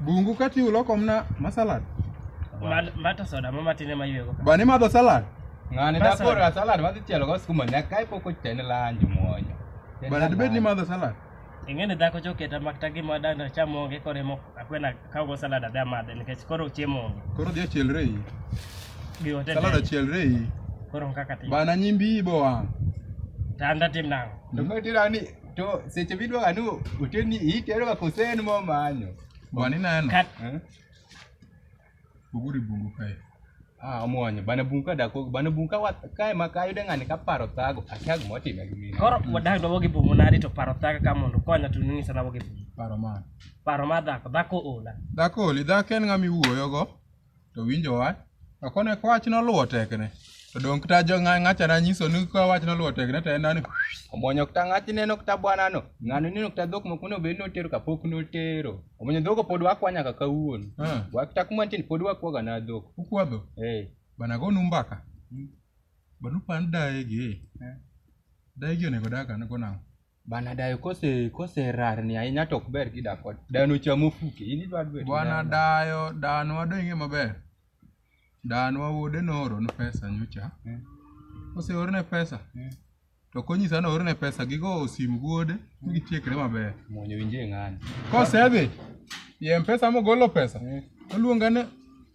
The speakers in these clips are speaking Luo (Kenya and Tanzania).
Bungu kati ulo komna ma salad. Mad- Mata soda ma matine ma ywego. Ba ni madho salad. Ng'ani Bas, dakoro a salad madhi chielo go skuma nyaka kae pok ochene lanji mwonyo. Chene Ba dibed ni lanji. madho salad. Ing'eni dhako choketa makta gima danda cham onge koro emo akwena kawgo salad adhi amadhe nikech koro chiemo onge. Koro dhi achielre iyi. Gi ote Salad dende. achielre iyi. Koro kaka tim. Ba na nyimbi iyi bo wang'. Tanda tim nang'o? To koro tira ni to seche midwaga ni oterni iteroga kosen momanyo Bwana ineno? Kat. Eh? Buguri bungu kae. Ah, omwonyo bana bungu ka dako bana bungu ka wat- kae ma kayude ng'ani ka paro thago akia gima otime gi mine Koro wadak dobo gi bungu nadi to paro thaka ka mondo konya to ning'isa dobo gi bungu. Paro man. Paro mar dhako, dhako ola. Dhako oli, dhako en ng'ama iwuoyogo. to winjo wach. To kone ka wach noluwo tekne, to donge kata jo ng'a- ng'achana nyiso ni ka wach noluwo tekne to en nani omwonyo kata ng'achne no kata bwanano. Ng'ano neno kata dhok moko monego bed notero kapok notero. Omwonyo dhogo pod wakwa nyaka kawuono. Ah. Wa- Kata kuma nitie ni pod wakwaga na dhok. ukwadho Eh. bana gonu mbaka bana upand daegi daegi onego dag an go nang'o Bana dayo kose kose rarni ahinya to ok ber kidak kode. Dayo nochamo fuke. In idwa dwe. Bwana dayo dano wadwa ing'e maber. Dano wuode noorone pesa nyocha. Mm. Oseorne pesa. Mm. To konyisa ni oorne pesa gigo osim wuode mm. gitiekre maber. Mwonyo winje ng'ani. Kosedhi. Ye mpesa mogolo pesa. Mm. Oluonga ni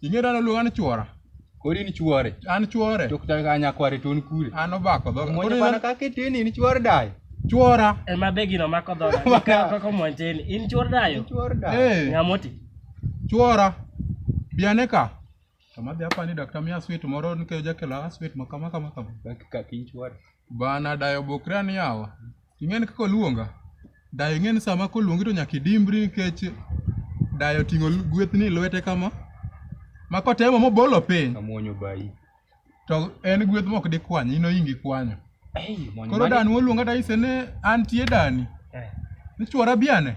Ing'e dala luonga ni chuora. Koro in chuore. An chuore. To kutaka ka nyakware to un kure. An obako dho. Mwenye pana kaka itini in chuor dayo. Chuora. Ema be gino mako dho. Kaka kaka mwanjeni. In chuor dayo. In chuor dayo. Eh. Ngamoti. Chuora. Biane ka. Kama dhi apani dakta miya sweet moro nikech jakela sweet makama kama kama. Kaka kin chuora. Bana dayo bokre an yawa. Ing'eni kaka oluonga? Dayo ing'eni sama koluongi to nyaka idimbri nikech dayo ting'o lu- gwethni e lwete kama. Ma kotemo mobolo piny Amuonyo bayi. to en gweth mok dikwany, in oingi kwanyo. Ei, mwonyo Koro mane- dani moluonga dayise ni antie dani. Eh. Ni chwora biane.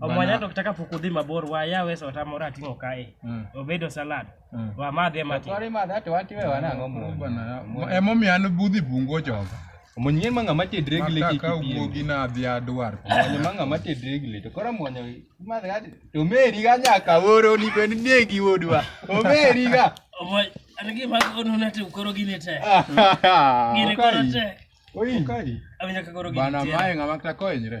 omwanya to taka pok udhi mabor waya wes otamore ating'o kae mm. obedo salad mm. wamadhi emati emomiyo an budhi bungo joga omonye ma ng'ama tedre gi leke kaka wuogi na adhi adwar omonye ma ng'ama tedre gi leke koro omonye madhi adi to meri ga nyaka oro ni ben nie gi wodwa omeri ga omonye an gi ma ono na te koro gine te gine koro te oi kai awinja ka koro gine te bana mae ng'ama ta koenyre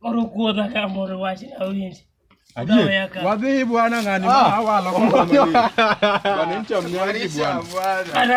Koro kuodha ka moro wach na winj. Adier. Wadhi bwana ngani ma ah. awalo kwa mami. Bwana mcha mnyani bwana. Ana.